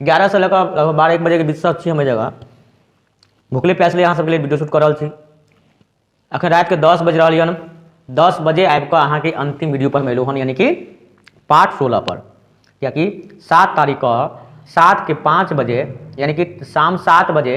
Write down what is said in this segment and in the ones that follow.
एगारह से लऽ कऽ लगभग बारह एक बजेके बीच तक छी हम एहि जगह भुखले प्यासले अहाँ सबके लिए वीडियो शूट कऽ रहल छी अखन रातिके दस बजि रहल यन दस बजे आबि कऽ अहाँके अंतिम वीडियो पर हम एलहुँ हन यानी कि पार्ट सोलह पर कियाकि सात तारीख कऽ सात के पाँच बजे यानी कि शाम सात बजे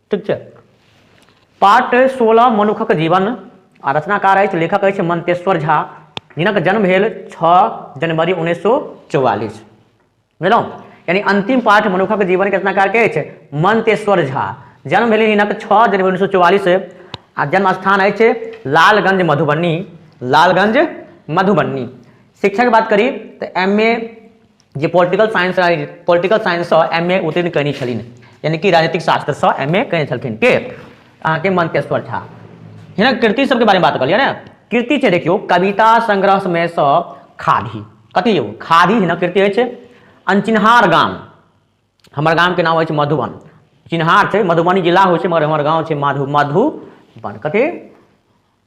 ठीक छै पाठ सोलह मनुखक जीवन आ रचनाकार अछि लेखक अछि मंतेश्वर झा जिनक जन्म भेल छओ जनवरी उन्नैस सौ चौवालीस बुझलहुँ यानी अंतिम पाठ मनुखक जीवन के रचनाकार के अछि मंतेश्वर झा जन्म भेल हिनक छओ जनवरी उन्नैस सौ चौवालीस आ जन्म स्थान अछि लालगंज मधुबनी लालगंज मधुबनी शिक्षा के बात करी तो एम ए जे पोलिटिकल साइंस पोलिटिकल साइंससँ एम ए उत्तीर्ण कयने छलिन यानी कि राजनीतिक शास्त्रसँ एम ए कयने छलखिन के अहाँके मनकेश्वर झा हिनक कृति सबके बारेमे बात कहलियै ने कृति छै देखियौ कविता संग्रहमे सँ खादी कथी यौ खादी हिनक कृति अछि अनचिन्हार गाम हमर गामके नाम अछि मधुबन चिन्हार छै मधुबनी जिला होइ छै मगर हमर गाँव छै मधु मधुबन कथी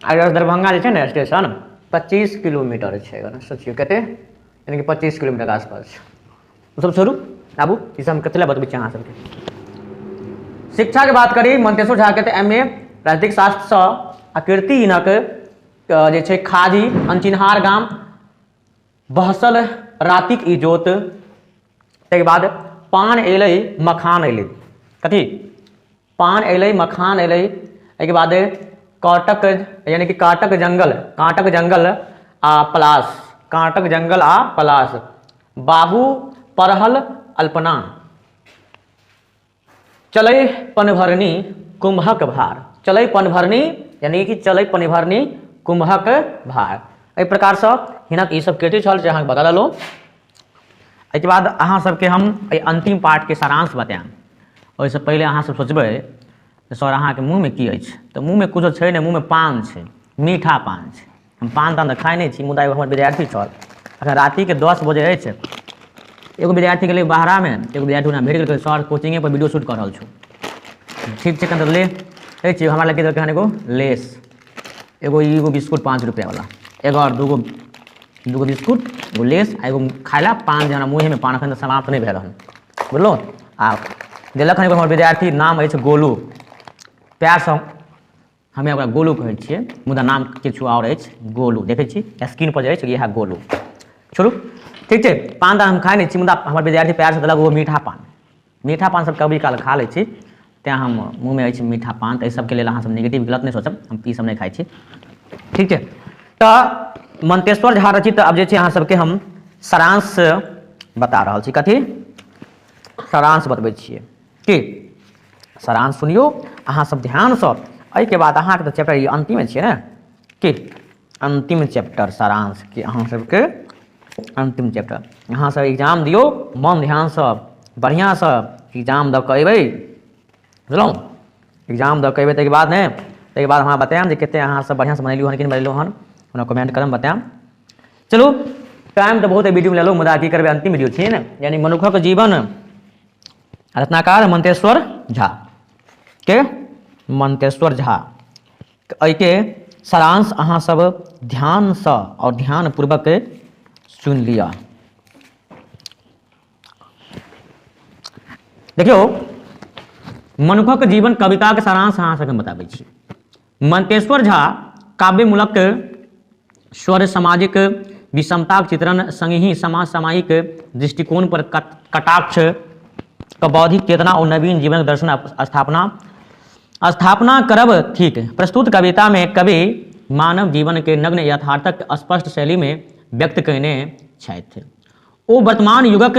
आ एगो दरभंगा जे छै ने स्टेशन पच्चीस किलोमीटर छै एगो सोचियौ कते यानी कि पच्चीस किलोमीटर के आसपास छै ओसभ छोड़ू आबू ई सब हम कथी लए बतबै छी अहाँ सबके शिक्षा के बात करी मंतेश्वर झा के तऽ एम ए राजनीतिक शास्त्र सँ आ कीर्ति हिनक अ, जे छै खाजी अनचिन्हार गाम बहसल रातिक इजोत ताहिके बाद पान एलै मखान एलै कथी पान अयलै मखान अयलै एहिके बाद काँटक यानि कि काँटक जंगल काँटक जंगल आ पलास काँटक जंगल आ पलास बाहू परहल अल्पना चलै पनभरनी कुम्हक भार चलै पनभरनी यानि कि चलै पनभरनी कुम्हक भार एहि प्रकारसँ हिनक ईसभ कृति छल जे अहाँके बता देलहुँ एहिके बाद अहाँ सबके हम एहि अन्तिम पार्टके सारांश बतायब ओहिसँ पहिले अहाँ सब सोचबै जे सर अहाँके मुँहमे की अछि तऽ मुँहमे किछो छै नहि मुँहमे पान छै मीठा पान छै हम पान तान तऽ खाइ नहि छी मुदा एगो हमर विद्यार्थी छल अखन रातिके दस बजे अछि एगो विद्यार्थी गेलै बाहरामे एगो विद्यार्थी ओना भेट गेलै सर कोचिंगेपर वीडियो शूट कऽ रहल छौ ठीक छै कनि तऽ ले कहै छियै हमरा लग की देलकै हन एगो लेस एगो एगो बिस्कुट पाँच रुपया वाला एगो और दूगो दूगो बिस्कुट एगो लेस आ एगो खाए ला पान जे हमरा मुँहे में पान अखन तक समाप्त नहीं भेल हन बुझलो आ देलक हन एगो हमर विद्यार्थी नाम अछि गोलू प्यार से हमे ओकरा गोलू कहै छियै मुदा नाम किछु और अछि गोलू देखै छी स्क्रीन पर जे अछि इएह गोलू छोड़ू ठीक छै पान तऽ हम खाए नहि छी मुदा हमर विद्यार्थी प्यार से देलक ओ मीठा पान मीठा पान सब कभी काल खा लै छी तैँ हम मुँहमे अछि मीठा पान तऽ एहि सबके लेल अहाँसब नेगेटिव गलत नहि सोचब हम ई सब नहि खाइ छी ठीक छै तऽ मंतेश्वर झा रचित आब जे छै अहाँ सबके हम सारांश बता रहल छी कथी सारांश बतबै छियै की सारांश सुनियौ अहाँ सब ध्यानसँ एहिके बाद अहाँके तऽ चैप्टर ई अन्तिमे छियै ने की अन्तिम चैप्टर सारांश कि अहाँ सबके अन्तिम चैप्टर अहाँ सब एग्जाम दियौ मन ध्यानसँ बढ़िआँसँ एग्जाम दऽ कऽ अयबै बुझलहुँ एग्जाम दऽ कऽ अयबै ताहिके बाद ने ताहिके बाद हमरा बतायब जे कतेक अहाँसभ बढ़िआँसँ बनेलहुँ हन कि नहि बनेलहुँ हन हमरा कमेंट करब बतायब चलू टाइम तऽ बहुत वीडियोमे लेलहुँ मुदा की करबै अन्तिम वीडियो छियै ने यानी मनुखक जीवन रत्नाकार मंतेश्वर झा के मंतेश्वर झा एहिके सारांश अहाँसभ ध्यानसँ आओर ध्यानपूर्वक सुनि लिअ देखियौ मनुखक जीवन कविताके सारांश अहाँ सभके बताबै छी मनतेश्वर झा काव्यमूलक स्वर सामाजिक विषमताक चित्रण संगहि समाज सामायिक दृष्टिकोण पर कटाक्ष के बौद्धिक चेतना और नवीन जीवन दर्शन स्थापना स्थापना करब थिक प्रस्तुत कविता में कवि मानव जीवन के नग्न यथार्थक स्पष्ट शैली में व्यक्त कयने छथि ओ वर्तमान युगक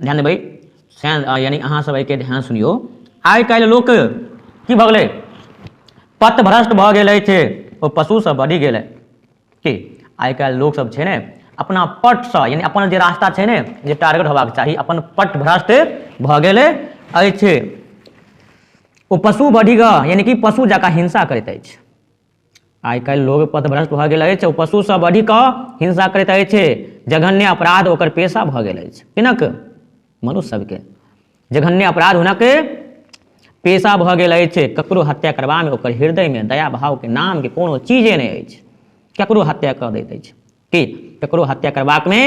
ध्यान देबै सैन यानी अहाँ सब एहिके ध्यान सुनियो आइ काल्हि लोक की भऽ गेलै पत भ्रष्ट भऽ गेल अछि ओ पशुसँ बढ़ि गेल है की आइ काल्हि लोक सब छै ने अपना पटसँ यानी अपन जे रास्ता छै ने जे टारगेट होबाक चाही अपन पट भ्रष्ट भऽ गेल अछि ओ पशु बढ़ि कऽ यानी कि पशु जकाँ हिंसा करैत अछि आइ काल्हि लोग पथभ्रष्ट भऽ गेल अछि ओ पशुसँ बढ़ि कऽ हिंसा करैत अछि जघन्य अपराध ओकर पेशा भऽ गेल अछि किनक मनुष्य सभके जघन्य अपराध हुनक पेशा भऽ गेल अछि ककरो हत्या करबामे ओकर हृदयमे दया भावके नामके कोनो चीजे नहि अछि ककरो हत्या कऽ दैत अछि कि ककरो हत्या करबाक मे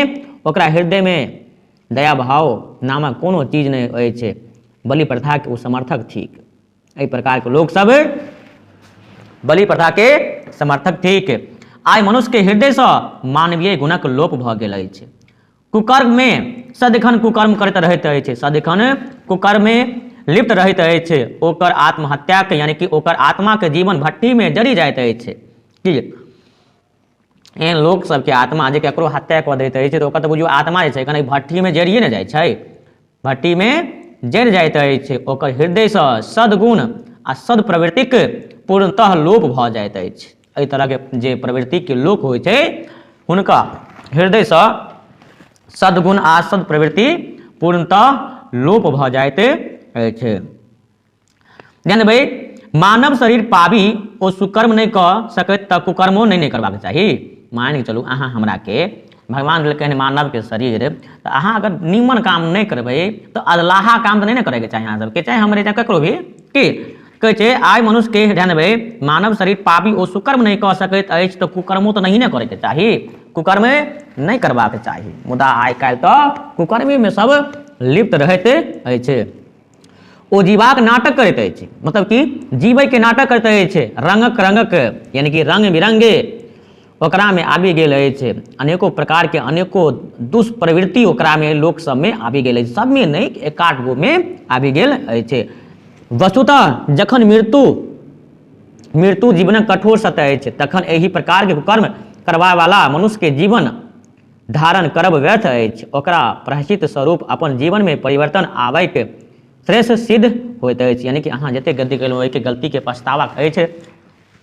ओकरा हृदय मे दयाभाव नामक कोनो चीज नहि अछि बलि प्रथा के ओ समर्थक थिक एहि प्रकार के लोक सब बलि प्रथा के समर्थक थिक आइ मनुष्य के हृदय से मानवीय गुणक लोप भऽ गेल अछि कुकर्म मे सदिखन कुकर्म करैत रहैत अछि सदिखन कुकर्म मे लिप्त रहैत अछि ओकर आत्महत्या के यानी कि ओकर आत्मा के जीवन भट्टी मे जरि जाइत अछि कि एहन लोक सबके आत्मा जे ककरो हत्या कऽ दैत अछि तऽ ओकर तऽ बुझियौ आत्मा जे छै कनि भट्टीमे जरिए ने जाइ छै भट्टीमे जरि जाइत अछि ओकर हृदयसँ सद्गुण आ सदप्रवृत्तिक पूर्णतः लोप भऽ जाइत अछि एहि तरहके जे प्रवृत्तिके लोक होइ छै हुनका हृदयसँ सद्गुण आ सदप्रवृत्ति पूर्णतः लोप भऽ जाइत अछि ध्यान देबै मानव शरीर पाबी ओ सुकर्म नहीं क सकैत तऽ कुकर्मो नहीं ने करबाक चाही मान के चलू अहाँ हमरा के भगवान देलकनि मानव के शरीर तऽ अहाँ अगर नीमन काम नहीं करबै तऽ अदलाहा काम तऽ नहीं ने करे के चाही अहाँ सबके चाहे हमरे चाहे ककरो भी की कहै छै आइ मनुष्य के ध्यान देबै मानव शरीर पाबी ओ सुकर्म नहीं कऽ सकैत अछि तऽ कुकर्मो तऽ नहीं ने करे के चाही कुकर्मे नहीं करबाक चाही मुदा आइ काल्हि तऽ कुकर्मी में सब लिप्त रहते अछि ओ जीवाक नाटक करैत अछि मतलब कि जीवैके नाटक करैत अछि रंगक रंगक यानी कि रंग बिरंगे ओकरामे आबि गेल अछि अनेको प्रकारके अनेको दुष्प्रवृत्ति ओकरामे लोक सबमे आबि गेल अछि सबमे नहि एकाध गोमे आबि गेल अछि वस्तुतः जखन मृत्यु मृत्यु जीवनक कठोर सत्य अछि तखन एहि प्रकारके कर्म करबावाला मनुष्यके जीवन धारण करब व्यर्थ अछि ओकरा प्रायश्चित स्वरूप अपन जीवनमे परिवर्तन आबैक श्रेष्ठ सिद्ध होइत अछि यानि कि अहाँ जतेक गलती केलहुँ ओहिके गलतीके पछतावा अछि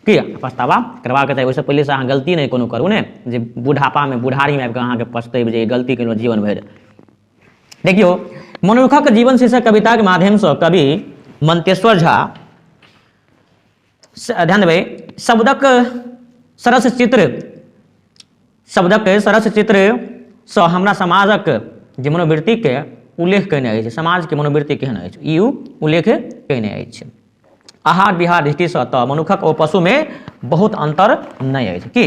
कि पछतावा करबाक चाही ओहिसँ पहिलेसँ अहाँ गलती नहि कोनो करू ने जे बुढ़ापामे बुढ़ारीमे आबि कऽ अहाँके पछतेब जे गलती केलहुँ जीवन भरि देखियौ मनुखक जीवन शीर्षक कविताके माध्यमसँ कवि मंतेश्वर झा ध्यान देबै शब्दक सरस चित्र शब्दक सरस चित्रसँ हमरा समाजक जे मनोवृत्तिके उल्लेख कयने अछि समाजके मनोवृत्ति केहन अछि ई उल्लेख कयने अछि आहार विहार दृष्टिसँ तऽ मनुखक ओ पशुमे बहुत अन्तर नहि अछि की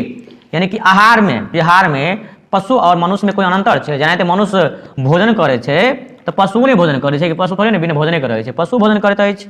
यानी कि आहारमे विहारमे पशु आओर मनुष्यमे कोइ अन्तर छै जेनाहिते मनुष्य भोजन करै छै तऽ पशु नहि भोजन करै छै कि पशु थोड़े ने बिना भोजने करै छै पशु भोजन करैत अछि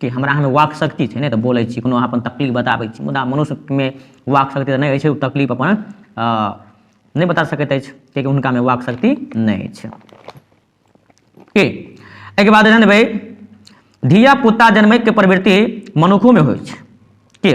कि हमरा अहाँमे वाक शक्ति छै ने तऽ बोलै छी कोनो अहाँ अपन तकलीफ बताबै छी मुदा मनुष्यमे वाक शक्ति तऽ नहि होइ छै ओ तकलीफ अपन अ, नहि बता सकैत अछि कियाकि हुनकामे वाक शक्ति नहि अछि के एहिके बाद एहन भाई धिया पुता जन्मैके प्रवृत्ति मनुखोमे होइ छै के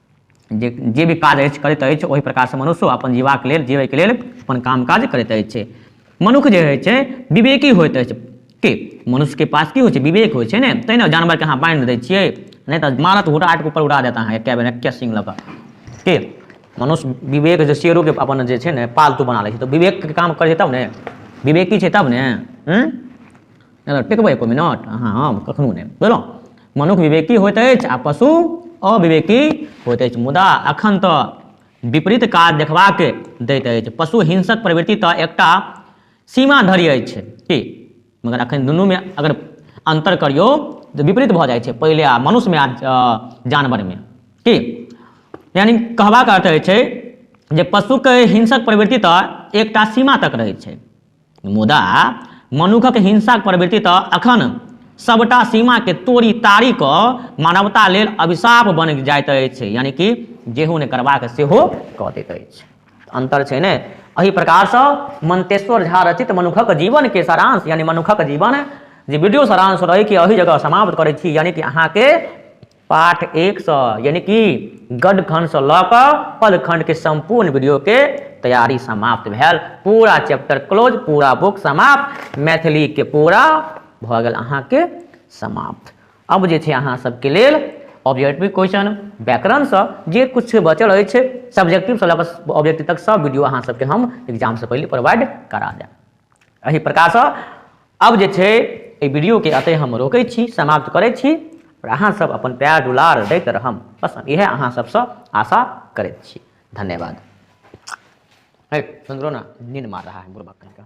जे जे भी काज अछि करैत अछि ओहि प्रकारसँ मनुष्यो अपन जीबाक लेल जीबैके लेल अपन काम काज करैत अछि मनुख जे होइ छै विवेकी होइत अछि के मनुष्यके पास की होइ छै विवेक होइ छै ने तैँ ने जानवरके अहाँ बान्हि दै छियै नहि तऽ मारत हुटाट ऊपर उड़ा देत अहाँके कए बेर एके सिंह लऽ कऽ के मनुष्य विवेक जे शेरोके अपन जे छै ने पालतू बना लै छै तऽ विवेकके काम करै छै तब ने विवेकी छै तब ने हूँ अगर टेकबै एको मिनट अहाँ हम कखनो नहि बुझलहुँ मनुख विवेकी होइत अछि आ पशु अविवेकी होइत अछि मुदा अखन तऽ विपरीत काज देखबाक दैत अछि पशु हिंसक प्रवृत्ति तऽ एकटा सीमा धरि अछि की मगर अखन दुनूमे अगर अन्तर करियौ तऽ विपरीत भऽ जाइ छै पहिले आ मनुष्यमे आ जानवरमे की यानि कहबाक अर्थ अछि जे पशुके हिंसक प्रवृत्ति तऽ एकटा सीमा तक रहै छै मुदा मनुखक हिंसाक प्रवृत्ति तऽ अखन सबटा सीमा के तोड़ी ताड़ी क मानवता लेल अभिशाप बन जाइत अछि यानी कि जेहो नहि करबाक सेहो कऽ दैत अछि अंतर छै ने एहि प्रकार से मंतेश्वर झा रचित मनुखक जीवन के सारांश यानी मनुखक जीवन जे वीडियो सारांश रहे कि एहि जगह समाप्त करै छी यानी कि अहाँके पाठ एक सौ यानी कि गढ़ खंड से लऽ कऽ पद खंड के संपूर्ण वीडियो के तैयारी समाप्त भेल पूरा चैप्टर क्लोज पूरा बुक समाप्त मैथिली के पूरा भऽ गेल अहाँके समाप्त अब जे छै अहाँ सबके लेल ऑब्जेक्टिव क्वेश्चन व्याकरण से जे कुछ बचल अछि सब्जेक्टिव से लऽ कऽ ऑब्जेक्टिव तक सब वीडियो अहाँ सबके हम एग्जाम से पहले प्रोवाइड करा देब एहि प्रकारसँ अब जे छै एहि वीडियोके अतः हम रोकै छी समाप्त करै छी आओर अहाँसभ अपन प्यार दुलार दैत रहम बस हम इएह अहाँ सभसँ आशा करैत छी धन्यवाद है सुनलो ना नींद मार रहा है बुढ़बा कहीं का